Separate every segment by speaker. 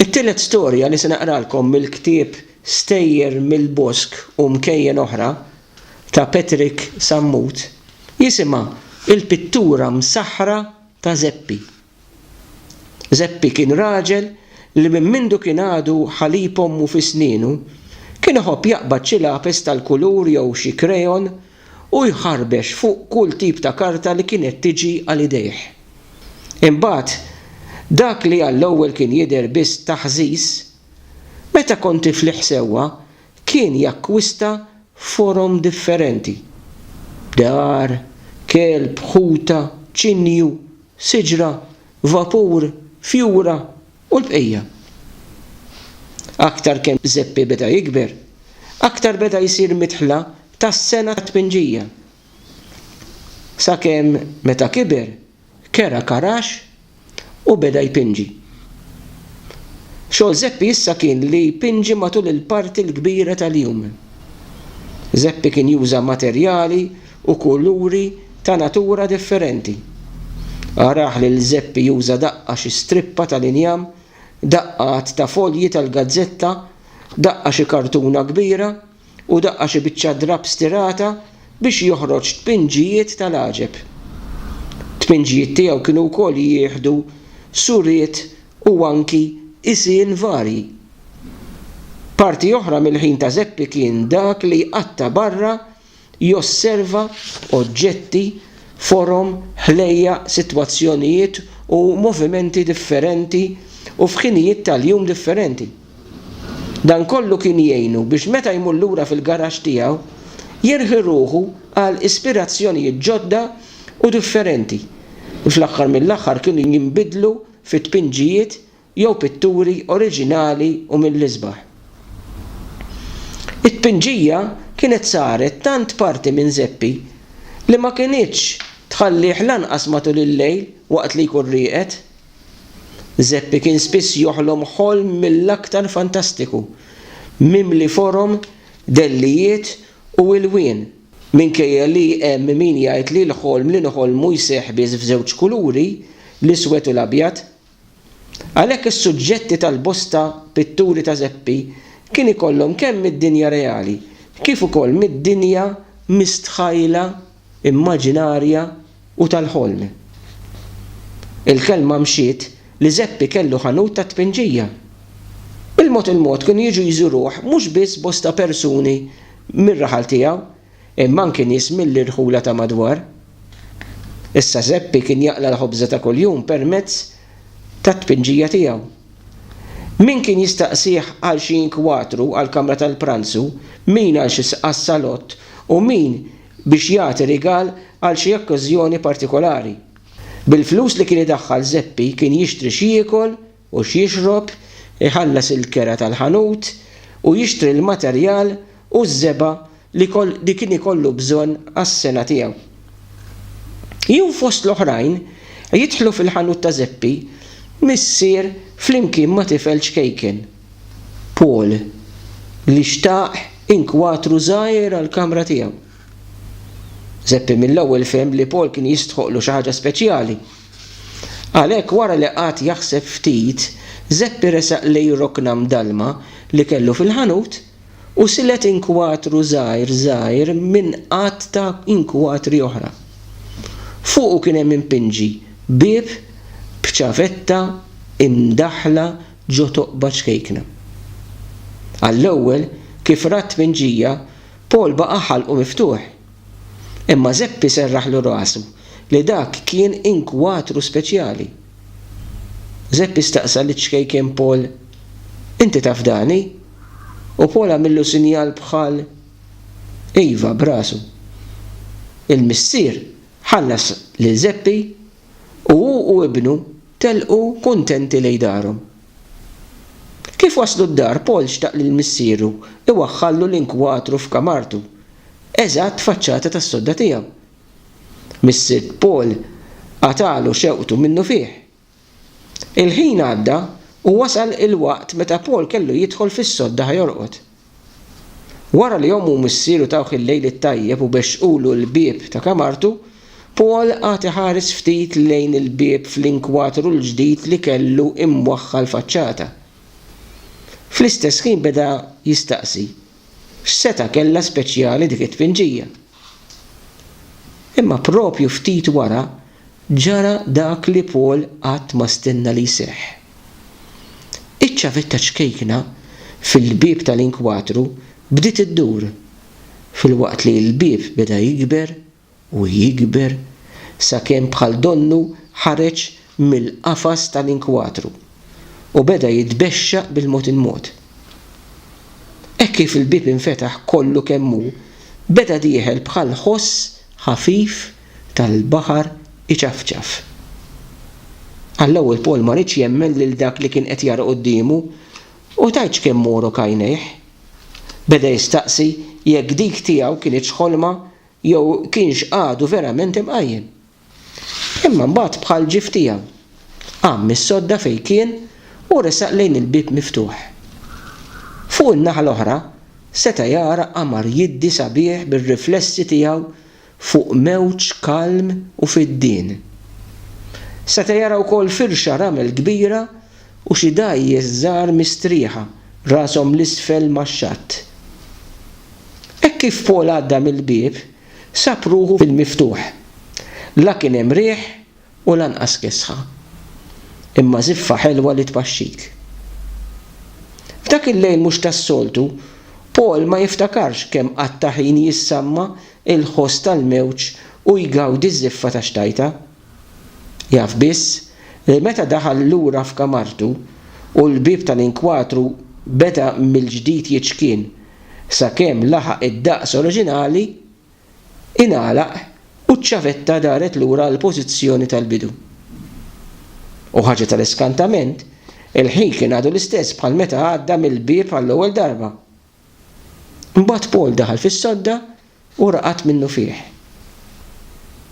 Speaker 1: It-tielet storja li se naqralkom mill-ktieb Stejjer mill-Bosk u Mkejjen Oħra ta' Patrick Sammut jisimha Il-Pittura Msaħħra ta' Żeppi. Żeppi kien raġel li minn mindu kien għadu ħalib ommu fi snienu kien iħobb jaqbad xi lapes tal-kulur jew xi krejon u jħarbex fuq kull tip ta' karta li kienet tiġi għal idejh. Imbagħad, dak li għall-ewwel kien jidher biss taħżiż, meta kont tiflih sewwa kien jakkwista forom differenti, dar, kelb, ħuta, ċinju, siġra, vapur, fjura, U l-bqija. Aktar kemm Żeppi beda jikber, aktar beda jsir midħla tas-sengħa tat-tpinġija. Sakemm meta kiber, kera karax u beda jpinġi. Xogħol Żeppi issa kien li jpinġi matul il-parti l-kbira tal-jum. Żeppi kien juża materjali u kuluri ta' natura differenti. Arah lil Żeppi juża daqqa xi strippa tal-injam, daqqa għadd ta' folji tal-gazzetta, daqqa xi kartuna kbira u daqqa xi biċċa drapp stirata biex joħroġ tpinġijiet tal-għaġeb. Tpinġijiet tiegħu kienu wkoll jieħdu suriet u anki qisien varji. Parti oħra mill-ħin ta' Żeppi kien dak li jqatta' barra Josserva oġġetti, forom, ħlejjaq, sitwazzjonijiet u movimenti differenti u f'ħinijiet tal-jum differenti. Dan kollu kien jgħinu biex meta jmur lura fil-garaxx tiegħu, jirħi ruħu għal ispirazzjonijiet ġodda u differenti li fl-aħħar mill-aħħar kienu jinbidlu fi tpinġijiet jew pitturi oriġinali u mill-isbaħ. It-tpinġija kienet saret tant parti minn Zeppi li ma kinitx tħallih lanqas matul il-lejl waqt li jkun rieqed. Zeppi kien spiss joħlom ħolm mill-aktar fantastiku, mimli forom, dellijiet u ilwien. Minkejja li hemm min jgħid li l-ħolm li nħollmu jseħħ biss f'żewġ kuluri, l-iswed u l-abjad, Għalhekk is-suġġetti tal-bosta pitturi ta' Zeppi kien ikollhom kemm mid-dinja reali kif ukoll mid-dinja mistħajla, immaġinarja u tal-ħolm. Il-kelma mxiet li Zeppi kellu ħanut tat-tpinġija. Il-mod il-mod kienu jiġu jżuruh mhux biss bosta persuni mir-raħal tiegħu, imma anki nies mill-irħula ta' madwar. Issa Żeppi kien jaqla' l-ħobża ta' kuljum permezz tat-tpinġija tiegħu. Min kien jistaqsih għal xi inkwatru għall-kamra tal-pranzu, min għal xi sqassalott u min biex jagħti rigal għal xi okkażjoni partikolari. Bil-flus li kien idaħħal Żeppi kien jixtri x'jiekol u x'jixrob, iħallas il-kera tal-ħanut u jixtri l-materjal u ż-żebgħa li kien ikollu bżonn għas-sengħa tiegħu. Jew fost l-oħrajn jidħlu fil-ħanut ta' Żeppi missier flimkien ma' tifel ċkejken, Paul, li xtaq inkwatru żgħir għall-kamra tiegħu. Żeppi mill-ewwel fehem li Paul kien jistħoqqlu xi ħaġa speċjali Għalhekk wara li qagħad jaħseb ftit, Żeppi resaq lejn rokna mdallma li kellu fil-ħanut u silet inkwatru żgħir żgħir minn għadd ta' inkwatri oħra. Fuqu kien hemm impinġi bieb b'ċavetta imdaħħla ġo toqba ċkejkna. Għall-ewwel, kif ra t-tpinġija, Paul baqa' ħalqu miftuħ. Imma Żeppi serraħlu rasu li dak kien inkwatru speċjali. Żeppi staqsa liċ-ċkejken Paul, Inti taf Dani? u Paul għamillu sinjal bħal iva b'rasu. Il-missier ħallas lil Żeppi u hu u ibnu telqu kuntenti lejn darhom. Kif waslu d-dar, Paul xtaq lil missieru iwaħħallu l-inkwatru f'kamartu, eżatt faċċata tas-sodda tiegħu. Missier Paul qatagħlu xewqtu minnufih. Il-ħin għadda u wasal il-waqt meta Paul kellu jidħol fis-sodda ħa jorqod. Wara li ommu u missieru tawh il-lejl it-tajjeb u bexxqulu l-bieb ta' kamartu, Paul qagħad iħares ftit lejn il-bieb fl-inkwatru l-ġdid li kellu imwaħħa l-faċċata. Fl-istess ħin beda jistaqsi, x'setgħa kellha speċjali dik it-tpinġija? Imma proprju ftit wara ġara dak li Paul qatt ma stenna li jseħħ. Iċ-ċavetta ċkejkna fil-bieb tal-inkwatru bdiet iddur, filwaqt li l-bieb beda jikber u jikber sakemm bħal donnu ħareġ mill-qafas tal-inkwatru u beda jitbexxaq bil-mod il-mod. Hekk kif il-bieb infetaħ kollu kemm hu, beda dieħel bħal ħoss ħafif tal-baħar iċafċaf. Għall-ewwel Paul ma riedx jemmen lil dak li kien qed jara quddiemu, u tgħidx kemm morgħu kajnejh. Beda jistaqsi jekk dik tiegħu kinitx ħolma jew kienx għadu verament imqajjem. Imma mbagħad bħal ġief tiegħu, qam mis-sodda fejn kien u resaq lejn il-bieb miftuħ. Fuq in-naħa l-oħra, seta' jara qamar jiddi sabiħ bir-riflessi tiegħu fuq mewġ kalm u fiddien. Seta' jara wkoll firxa ramel kbira u xi dgħajjes żgħar mistrieħa rashom 'l isfel max-xatt. Hekk kif Paul għadda mill-bieb, Sab ruħu fil-miftuħ. La kien hemm riħ u lanqas kesħa. Imma żiffa ħelwa li tpaxxik. F'dak il-lejl mhux tas-soltu, Paul ma jiftakarx kemm qatta' ħin jissamma il-ħoss tal-mewġ u jgawdi ż-żiffa ta' xtajta. Jaf biss li meta daħal lura f'kamartu u l-bieb tal-inkwatru beda mill-ġdid jiċkien sakemm laħaq id-daqs oriġinali, ingħalaq u ċ-ċavetta daret lura għall-pożizzjoni tal-bidu. U ħaġa tal-iskantament, il-ħin kien għadu l-istess bħal meta għadda mill-bieb għall-ewwel darba. Imbagħad Paul daħal fis-sodda u raqad minnufih.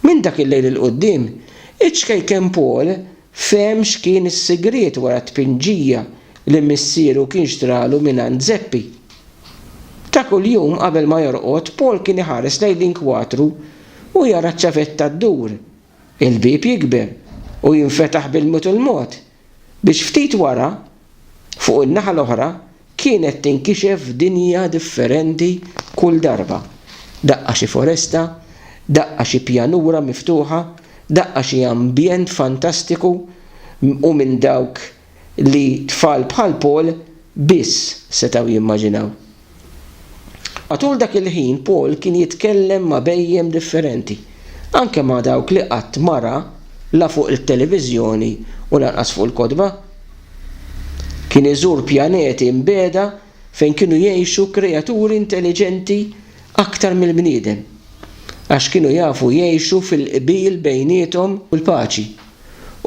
Speaker 1: Minn dak il-lejl 'il quddiem, iċ-ċkejken Paul fehem x'kien is-sigriet wara t-tpinġija li missieru kien xtralu mingħand Zeppi. Ta' kuljum qabel ma jorqod Paul kien iħares lejn l-inkwatru u jara ċ-ċavetta ddur Il-bieb jikber u jinfetaħ bil-mod il-mod biex ftit wara, fuq in-naħa l-oħra, kienet tinkixef dinja differenti kull darba, daqqa xi foresta, daqqa xi pjanura miftuħa, daqqa xi ambjent fantastiku u minn dawk li tfal bħal Paul biss setgħu jimmaġinaw. Matul dak il-ħin Paul kien jitkellem ma' bhejjem differenti, anke ma' dawk li qatt ma ra la fuq it-televiżjoni u lanqas fuq il-kotba. Kien iżur pjaneti mbiegħda fejn kienu jgħixu kreaturi intelliġenti aktar mill-bniedem, għax kienu jafu jgħixu fil-qbil bejniethom u l-paċi.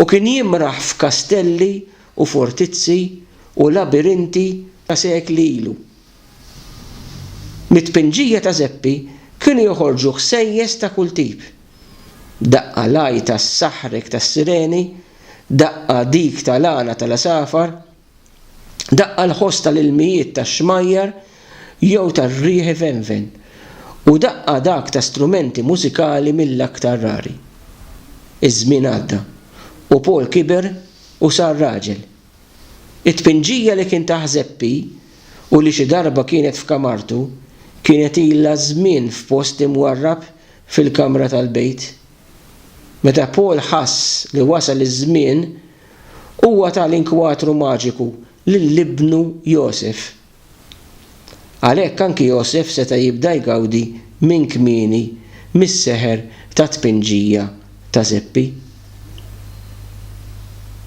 Speaker 1: u kien jimraħ f'kastelli u fortizzi u labirinti ta' sekli ilu. Mit-tpinġija ta' zeppi kienu joħorġu ħsejjes ta' kull tip, daqqa l-għajta s-saħrek tas-sireni, daqqa dik tal-għana tal-għasafar, Daqqa l-ħoss tal-ilmijiet tax-xmajjar jew tar-riħ ivenven, u daqqa dak ta' strumenti mużikali mill-aktar rari. Iż-żmien għadda, u Paul kiber u sar raġel. It-tpinġija li kien ta' Ħżeppi u li xi darba kienet f'kamartu kienet ilha żmien f'post imwarrab fil-kamra tal-bejt. Meta Paul ħass li wasal iż-żmien Huwa ta l-inkwatru maġiku lil ibnu Josef. Għalhekk anki Josef seta' jibda jgawdi minn kmieni mis-seħer tat-tpinġija ta' Żeppi.